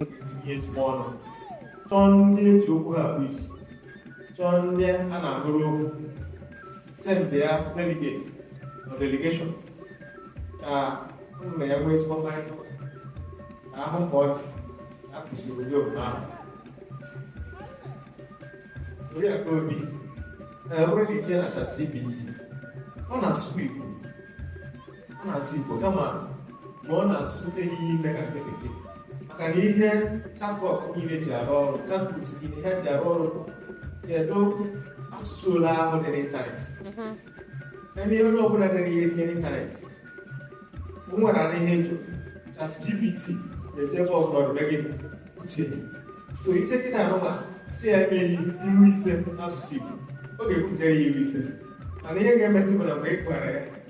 etinye ezigbo ọnụ chọọ ndị eji okwu ha bụ isi chọọ ndị a na-anụrụ okwu sendị ya delegate na delegation ka unu na ya nwee ezigbo mkparịta ụka ka a hụ mgbe ọ dị a kwụsịrị ụdị omume ahụ Oriakụ Obi ee nwere ike na chat gpt ọ na-asụ Igbo ọ na-asụ Igbo kama ma ọ na-asụ ehighị nne ka nke bekee maka na ihe chatbot niile ji arụ ọrụ chatbot niile ha ji arụ ọrụ kedu asụsụ ole ahụ dị n'ịntanetị ndị mhm. onye ọbụla dere ihe tinye n'ịntanetị m nwere na ihe jụ chat gpt na-eje ebe ọbụla ọdịbe gị uche so i jee kịta anụma sị ya nye ilu ise n'asụsụ Igbo ọ ga-ekwutere ya ilu ise mana ihe ga-emezi bụ na mgbe ị gwara ya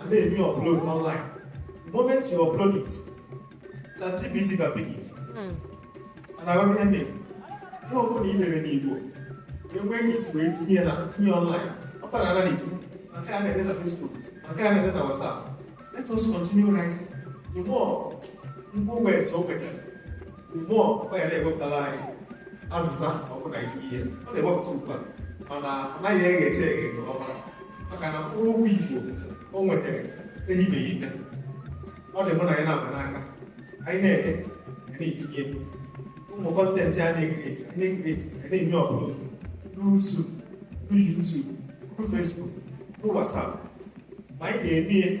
and then you upload online. The moment you upload it, ChatGPT can pick it. Mm. And I got ending. Ihe ọ bụla i dere n'Igbo, enweghị isi wee tinye ya na tinye online. Ọ kpara ala n'Igbo, ma nke a na-ede na Facebook, ma nke a na-ede na WhatsApp. Let us continue writing. The more Igbo words o nwetara, more ọ ya na-ewepụtara anyị azịza ọ bụ na i tinye ihe ọ na-ewepụta ugbu a mana ọ naghị eghecha eghe nke ọma maka na mkpụrụ okwu Igbo o nwetara ehibeghị nne ọ dị mụ na anyị na-ama n'aka anyị na-ede anyị na-etinye ụmụ content a na-ekreti anyị na-ekreti anyị na-enye ọbụla n'usu YouTube Facebook, na WhatsApp. Ma anyị na-ede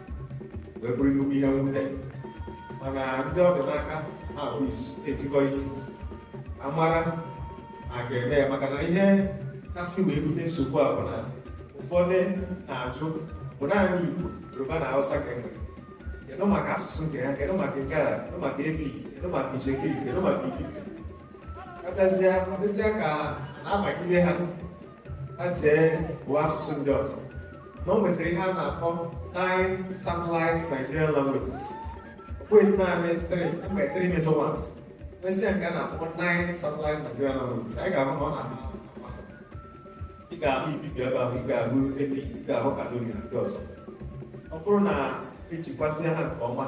wee bụrụ nnukwu ihe mwute mana ndị ọ dị n'aka ha bụ isu etikọ isi amara a ga-eme ya maka na ihe kasị wee bute nsogbu a bụ na ụfọdụ na-ajụ ọ bụ naanị Igbo Yoruba na Hausa ka enwere kedu maka asụsụ nke ha kedu maka Igala kedu maka Efik kedu maka Itsekiri kedu maka Ibibio ọ bịazịa dịzịa ka a na-abagide ha ha chee bụ asụsụ ndị ọzọ na o nwesịrị ihe a na-akpọ nine satellite Nigerian languages kwesị naanị the three major ones mesịa nke a na-akpọ nine satellite Nigerian languages anyị ga-ahụ na ọ na-ahụ amasị ị ga-ahụ Ibibio ebe ahụ ị ga-ahụ Efik ị ga-ahụ Kanuri na ndị ọzọ ọ bụrụ na ejikwasị ha nke ọma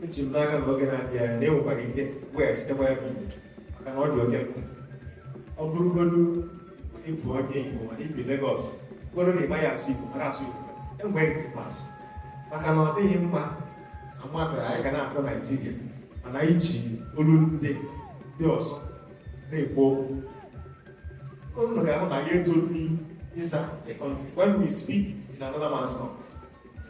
eji m n'aka na oge na-abịa na e nwekwara ike weghachitekwa ya bụ maka na ọ dị oke mkpa ọ bụrụgodu ị bụ onye Igbo mana i bi Legọs bụrụ na ị maghị asụ Igbo mara asụ Igbo nwee nke ị ma asụ maka na ọ dịghị mma na mmadụ anyị ga na-aza Naijiria mana iji olu ndị ndị ọzọ na-ekwu okwu unu ga-ahụ na ya etolu ịza the country when we speak in another man's mouth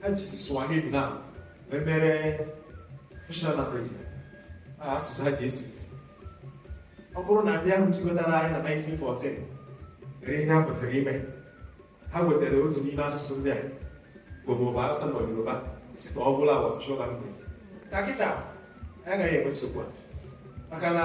ha jisi Swahili na wee mere official language ha asụsụ ha ji esi isi ọ bụrụ na ndị ahụ chịkọtara anyị na 1914 mere ihe ha kwesịrị ime ha wetara otu n'ime asụsụ ndị a Igbo maọbụ Hausa ma Yoruba sị ka ọ bụrụ official language ka kịta agaghị enwe nsogbu a maka na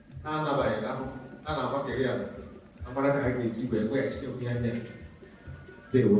ha anabaghị na ahụ ha na-agbakere ya amara ka ha ga-esi wee weghachi onwe ya ndewo